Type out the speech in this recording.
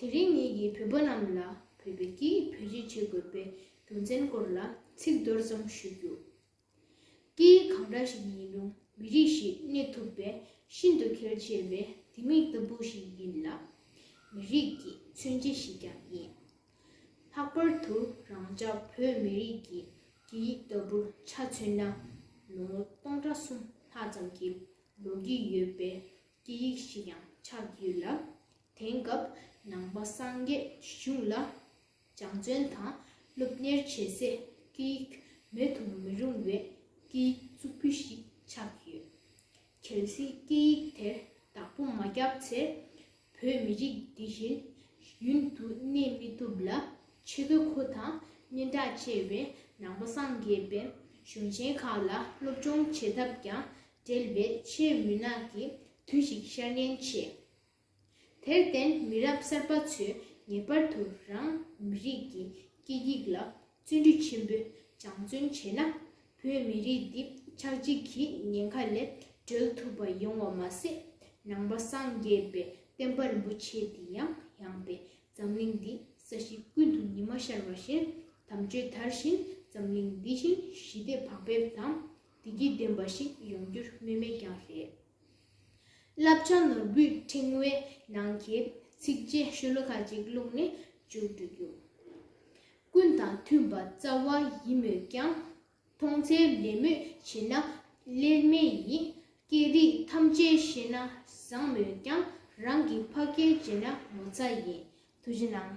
དེ་རིང་ངེད་ཀྱིས་བོད་པ་རྣམས་ལ་བོད་པའི་སྐད་ཡིག་བེད་སྤྱོད་བྱེད་དགོས་པའི་རྒྱུ་མཚན་སྐོར་ལ་ཚིག་མདོར་ཙམ་ཞུ་རྒྱུ། སྐད་ཡིག་གང་འདྲ་ཞིག་ཡིན་རུང་མི་རིགས་ཤིག་གནས་ཐུབ་པའི་ཤིན་ཏུ་གལ་ཆེ་བའི་ལྡེ་མིག་ལྟ་བུ་ཞིག་ཡིན་ལ། མི་རིགས་ཀྱི་མཚོན་བྱེད་ཞིག་ཀྱང་ཡིན། ལྷག་པར་དུ་རང་ཅག་བོད་མི་རིགས་ཀྱི་སྐད་ཡིག་ལྟ་བུ་ཆ་མཚོན་ན་ལོ་ངོ་སྟོང་ཕྲག་གསུམ་ལྷག་ཙམ་གྱི་ལོ་རྒྱུས་ཡོད་པའི་ཀྱི་ཡིག་ཞིག་ཡང་ཆགས་ཡོད་ལ། དེང་སྐབས་ནང་པ་སངས་རྒྱས་ཞི་ཆུང་ལ་སྦྱང་བརྩོན་དང་སློབ་གཉེར་བྱེད་སའི་སྐད་ཡིག་མེད་དུ་མི་རུང་བའི་སྐད་ཡིག་གཙུག་ཕུད་ཞིག་ཆགས་ཡོད། གལ་སྲིད་སྐད་ཡིག་དེར་བདག་པོ་མ་བརྒྱབ་ཚེ་བོད་མི་རིགས་འདི་བཞིན་ཡུན་དུ་གནས་མི་ཐུབ་ལ། ཆེ་དགོས་ཁོ་དང་སྙན་གྲགས་ཆེ་བའི་ནང་པ་སངས་རྒྱས་པའི་གཞུང་ཆེན་ཁག་ལ་སློབ་སྦྱོང་བྱེད་ཐབས་ཀྱང་བྲལ་བའི་ཆེས་མུན་ནག་གི་དུས་ཤིག་ཤར་ཉེན་ཆེ། དེར་བརྟེན་མི་རབས་གསར་པ་ཚོས་ངེས་པར་དུ་རང་མི་རིགས་ཀྱི་སྐད་ཡིག་ལ་བརྩོན་འགྲུས་ཆེན་པོས་སྦྱང་བརྩོན་བྱས་ན་བོད་མི་རིགས་འདི་ཆགས་འཇིག་གི་ཉེན་ཁ་ལས་སྒྲོལ་ཐུབ་པ་ཡོང་བ་མ་ཟད། ནང་པ་སངས་རྒྱས་པའི་བསྟན་པ་རིན་པོ་ཆེ་འདི་ཡང་ཡངས་པའི་འཛམ་གླིང་འདི་ས་གཞི་ཀུན་ཏུ་ཉི་མ་ཤར་བ་བཞིན་དམ་ཆོས་དར་བཞིན་འཛམ་གླིང་འདི་བཞིན་ཞི་བདེ་བག་ཕེབས་དང། བདེ་སྐྱིད་ལྡན་པ་ཞིག་ཡོང་རྒྱུར་སྨོས་མེད་ཀྱང་རེད། བསླབ་བྱ་ནོར་བུའི་ཕྲེང་བའི་ནང་གི་ཚིགས་བཅད་ཤོ་ལོ་ཀ་གཅིག་བླུགས་ནས་བཅུ་དྲུག་རྒྱུ། ཀུན་དང་མཐུན་པ་རྩ་བ་ཡིན་མོད་ཀྱང། མཐོང་ཚད་ལེན་མོད་བྱེད་ན་སླེལ་མེད་ཡིན། སྐད་རིགས་ཐམས་ཅད་ཤེས་ན་བཟང་མོད་ཀྱང། རང་གི་ཕ་སྐད་བརྗེད་ན་ངོ་ཚ་ཡིན། དུ་བྱི་ནང།